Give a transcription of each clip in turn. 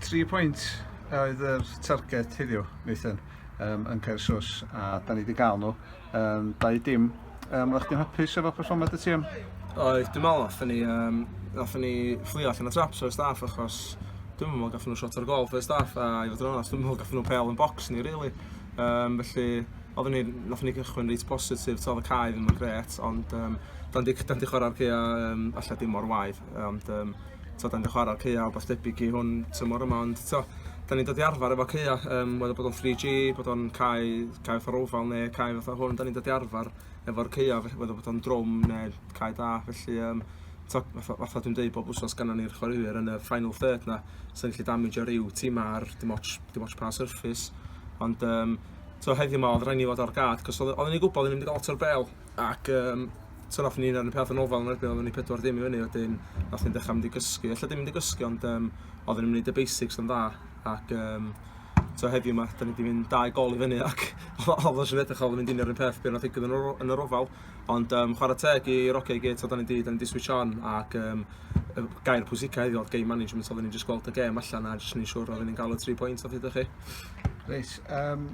Tri pwynt oedd yr targed heddiw, Nathan, um, yn cael sos, a da ni wedi cael nhw. Um, dau dim. Um, Oeddech chdi'n hapus efo perfformiad y tîm? Oedd, dim ond, nath ni, um, nath ni fflio allan o traps o'r staff achos dwi'n meddwl gath nhw shot o'r gol o'r staff a i fod yn onest dwi'n meddwl gath nhw pel yn box ni really. Um, felly oedden ni, nath ni gychwyn reit positif, todd y cae ddim yn gret ond um, dan di, dan di chwarae'r gea um, allai dim o'r waith ond um, t'od dan ni 'di chwara ar caea' wbath debyg i hwn tymor yma ond t'o' 'dan ni'n dod i arfar efo caea' yym whether bod o'n three gee bod o'n cae cae fatha Roval ne' cae fatha hwn 'dan ni'n dod i arfar efo'r caea' felly whether bod o'n drwm ne' cae da felly yym t'o' fatha fatha dwi'n deud bob wsos gynnon ni'r chwaraewyr yn y final third 'na sy'n gallu damagio ryw tima ar dim otsh dim otsh pa surface ond yym t'o' heddiw 'ma odd raid ni fod ar gard 'c'os odd o- odden ni gwbod o'n ni mynd i ga'l lot o'r bêl ac yym so nath ni'n arnu peth yn ofal yn erbyn oedden ni pedwar dim i fyny wedyn nath ni'n dechrau mynd i gysgu ella dim mynd i gysgu ond um, oedden ni'n mynd y basics yn dda ac um, so heddiw yma da ni wedi mynd dau gol i fyny ac oedd o'n siarad edrych oedd yn mynd i'n yr un peth beth nath digwydd yn yr ofal ond um, chwarae teg i Roge i gyd oedd ni'n di, da ni wedi switch on ac um, gair pwysica heddiw oedd game management oedd ni'n just gweld y game allan a jyst ni'n siŵr oedd ni'n gael y 3 pwynt oedd hyd chi Reit, um,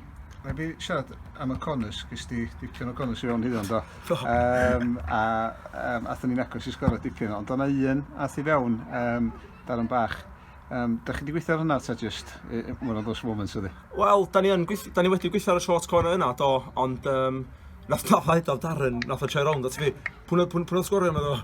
Mae fi siarad am y conus, gys di dipyn o conus i fewn hyddo, do? Do. Um, a um, athyn ni'n agos i sgoro dipyn, ond o'na un ath i fewn um, dar yn bach. Um, da chi wedi gweithio ar hynna ta just one of those moments ydi? Wel, da ni, gweithio, da ni wedi gweithio ar y short corner yna, do, ond um, nath na ffaid o Darren, nath o troi rownd at fi. Pwna, pwna, pwna sgorio yma do.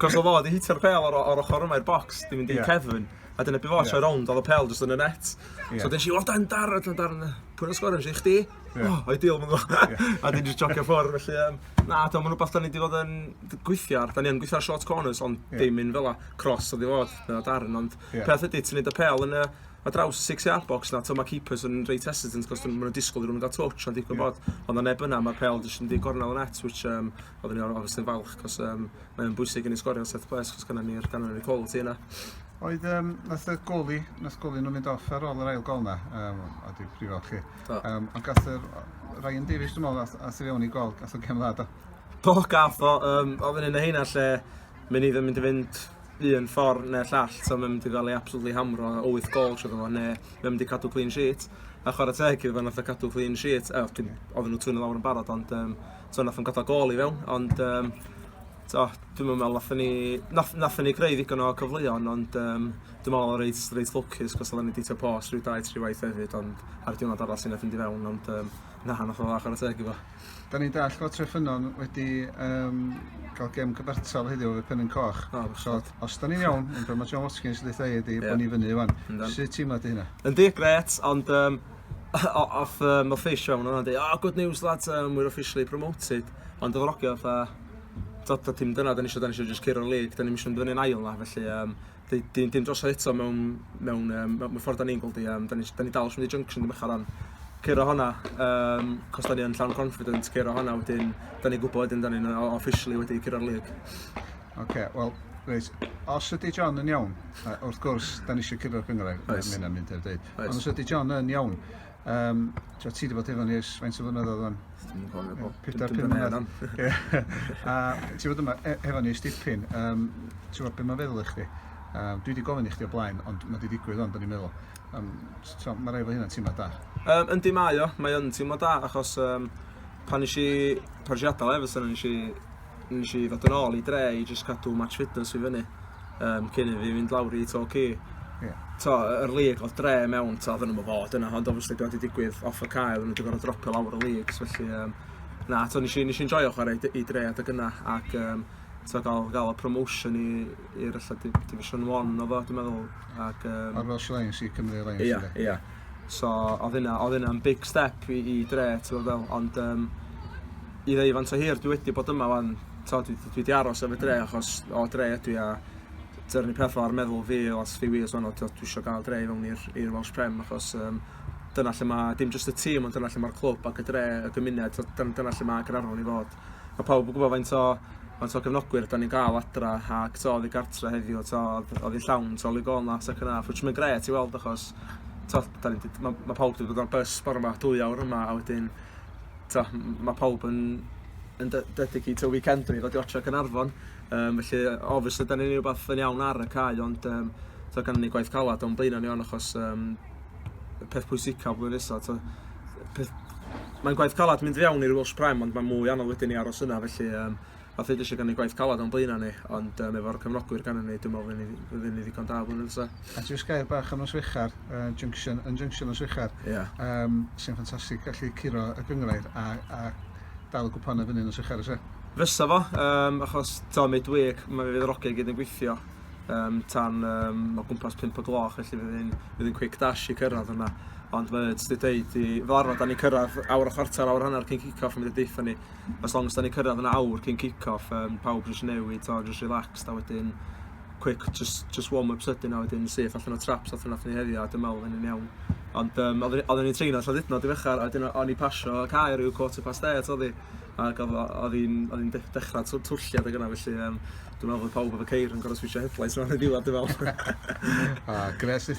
Cos o fod i hitio'r pel o'r, or ochr yma i'r box, di mynd i yeah. Kevin. A dyna be' fo troi rownd o'dd y pêl jyst yn y net. Ie. So desh i o dan Darren t'mod Darren yy pwy nath sgorio nesh i chdi. Ie. O ideal ma' fel Ie. A 'dyn jys jogio ffwr felly yym na t'o' ma'n wbath 'dan ni 'di fod yn d- gweithio ar 'dan ni yn gweithio ar short corners ond... Ie. ...dim un fela cross odd i fod fel o' Darren ond... Ie. ...peth ydi ti neud y pêl yn y ar draws six yard box 'na t'o' ma' keepers yn reit hesitant 'c'os dwn ma' nw'n disgwl i rywun ga'l touch ond digwydd bod... Ie. ...o' 'na neb yna ma'r pêl jyst yn mynd i gornel y net which yym oddwn i o- obviously yn falch 'c'os yym mae'n bwysig i ni sgorio set ples achos gynna ni'r ganran y col ti yna. Oedd, um, nath y goli, nath goli nhw'n mynd off ar ôl yr ail gol na, um, a di prifo chi. Um, ond gath yr Ryan Davies, dwi'n meddwl, a sy'n fewn i gol, gath o gem dda, do? Do, gath o, um, oedd yn un o heina lle, mynd i ddim mynd i fynd un ffordd neu'r llall, so mae'n mynd i gael ei absolutely hamro o 8 gol trwy ddod neu mae'n mynd i cadw clean sheet. A chwarae teg iddo fe, nath o cadw clean sheet, e, oedd nhw twyn o lawr yn barod, ond um, t'o' nath o'n ga'l gôl i fewn ond yym t'o' dwi'm yn me'wl nathon ni nath nathon ni greu ddigon o cyfleon ond yym dwi me'wl o' reit reit lwcus 'c'os oddan ni 'di trio pos ryw dau tri waith hefyd ond ar diwrnod arall sy nath fynd i fewn ond yym na nath o dda chwara teg iddo. 'Dan ni'n dallt fod Tre Ffynnon wedi yym ca'l gêm cyfartal heddiw efo Penrhyn Coch. O bechod. So os os 'dan ni'n iawn, fel ma' John Watkins yn deutha i ydi... Ie. ...bo' ni fyny ŵan. Yndan. Sut teimlad 'di hynna? Yndi grêt ond yym Off uh, my face show, nhw'n dweud, oh, good news lads, um, we're officially promoted. Ond oedd rogio fatha, dod o dim dyna, da ni eisiau, da ni eisiau just curo lig, da ni eisiau mynd yn ail na, felly um, dim, dim drosodd eto mewn, mewn, um, mewn ffordd da ni'n gweld i, um, da ni, da ni dal sy'n mynd i junction ddim eich ar curo honna, um, cos da ni yn llawn confident curo honna wedyn, da ni gwybod wedyn da ni'n officially wedi curo'r lig. Oce, okay, wel, Reit, os ydy John yn iawn, wrth gwrs, da ni eisiau cyrraedd gyngor, mae hynna'n mynd i'r dweud. Reit. Ond os ydy John yn iawn, um, ti wedi bod efo ni ers faint o flynyddoedd o'n? Dwi'n cofio bod. Pedair, pum mlynedd. A ti wedi bod e, efo ni ers dipyn, um, ti wedi bod beth mae'n feddwl i chdi? Um, dwi wedi gofyn i chdi o blaen, ond mae wedi digwydd ond o'n i'n meddwl. Um, so, mae rai fo hynna'n teimlo da. Um, yndi mae o, mae o'n teimlo da, achos um, pan eisiau, pan eisiau adael Everson, eisiau Nes i ddod yn ôl i dre i jyst cadw match fitness fi fyny um, cyn i fi fynd lawr i to ci. Yeah. To, yr lig oedd dre mewn, to, oedden nhw'n fod yna, ond obviously dwi wedi digwydd off y cael, nhw wedi gorau dropio lawr y lig, felly, um, na, to, nes i, nes i enjoyo chwarae i dre adeg yna, ac um, to, gael, gael y promotion i, i'r allan division 1 o fo, dwi'n meddwl, ac... Um, Ar Welsh Alliance i Cymru Alliance, Ia, yeah, ia. Yeah. So, oedd yna, oedd yna'n big step i, i dre, ti'n meddwl, ond, um, i ddeu faint o hir dwi wedi bod yma wan, t'o' dwi dwi 'di aros efo dre achos o dre ydw i a dy'r peth fel arfer meddwl fi os fi wir t'o' dwi isio ga'l dre i fewn i'r i'r Welsh Prem achos yym dyna lle ma' dim jyst y tîm ond dyna lle ma'r clwb ac y dre y gymuned t'o' dyn- dyna lle ma' Gaernarfon i fod. Ma' pawb yn gwbo faint o faint o gefnogwyr 'dan ni'n ga'l adra ac t'o' oddi gartre heddiw t'o' odd odd 'i llawn t'o' Luke Gonlaf second half which ma'n grêt i weld achos t'o' 'dan ni 'di ma' ma' pawb 'di dod ar bus bore 'ma dwy awr yma a wedyn t'o' m- m- ma' pawb yn yn de- dedicato weekend i ddod i watsio Caernarfon yym felly yy obviously 'dan ni'n neu' wbath yn iawn ar y cae ond yym t'o' gynnon ni gwaith calad o'n blaena' ni ŵan achos yym y peth pwysica flwyddyn nesa t'o' peth... Mae'n gwaith calad mynd i fewn i'r Welsh Prem ond ma' mwy anodd wedyn i aros yna felly yym Wnaeth ddeud eisiau gynnu gwaith caled o'n blaenau ni, ond um, efo'r cefnogwyr gan ni, dwi'n meddwl fydd ni ddigon da blwyddyn nesa. A jyst gair bach am Noswechar, uh, Junction, yn Junction Noswechar, yeah. um, sy'n ffantastig gallu curo y gyngrair a, a dal y gwpan y fyny Noswechar ysau. Fysa fo, um, achos ta midweek, mae fe fydd yr ogau gyd yn gweithio um, tan um, o gwmpas 5 o gloch, felly fydd yn, fydd yn quick dash i cyrraedd yna. Ond mae wedi dweud i, fel arfer, da ni cyrraedd awr o chwarter, awr hanner cyn kick-off yn mynd i deitha ni. as long as da ni cyrraedd yn awr cyn kick-off, um, pawb jyst newid, to, jyst relaxed, a wedyn quick, just, just warm-up sydyn, a wedyn syth allan o traps allan allan ni heddiw, a dyma oedd yn iawn. Ond um, oedden ni'n treino lladd ydnod i fechar, a wedyn o'n i pasio y cair i'w quarter past eight oedd hi, ac oedd hi'n dechrau twlliad ag yna, felly um, dwi'n meddwl bod pawb efo ceir yn gorau switch headlights yma yn y diwedd, dwi'n meddwl. a, gres,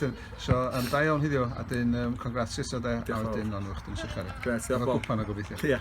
So, um, da iawn hiddiw, a dyn, um, congrats eto de, a wedyn, ond yw'ch dyn sy'n chari. Gret, diolch Bob. Efo cwpan o gobeithio. Ia.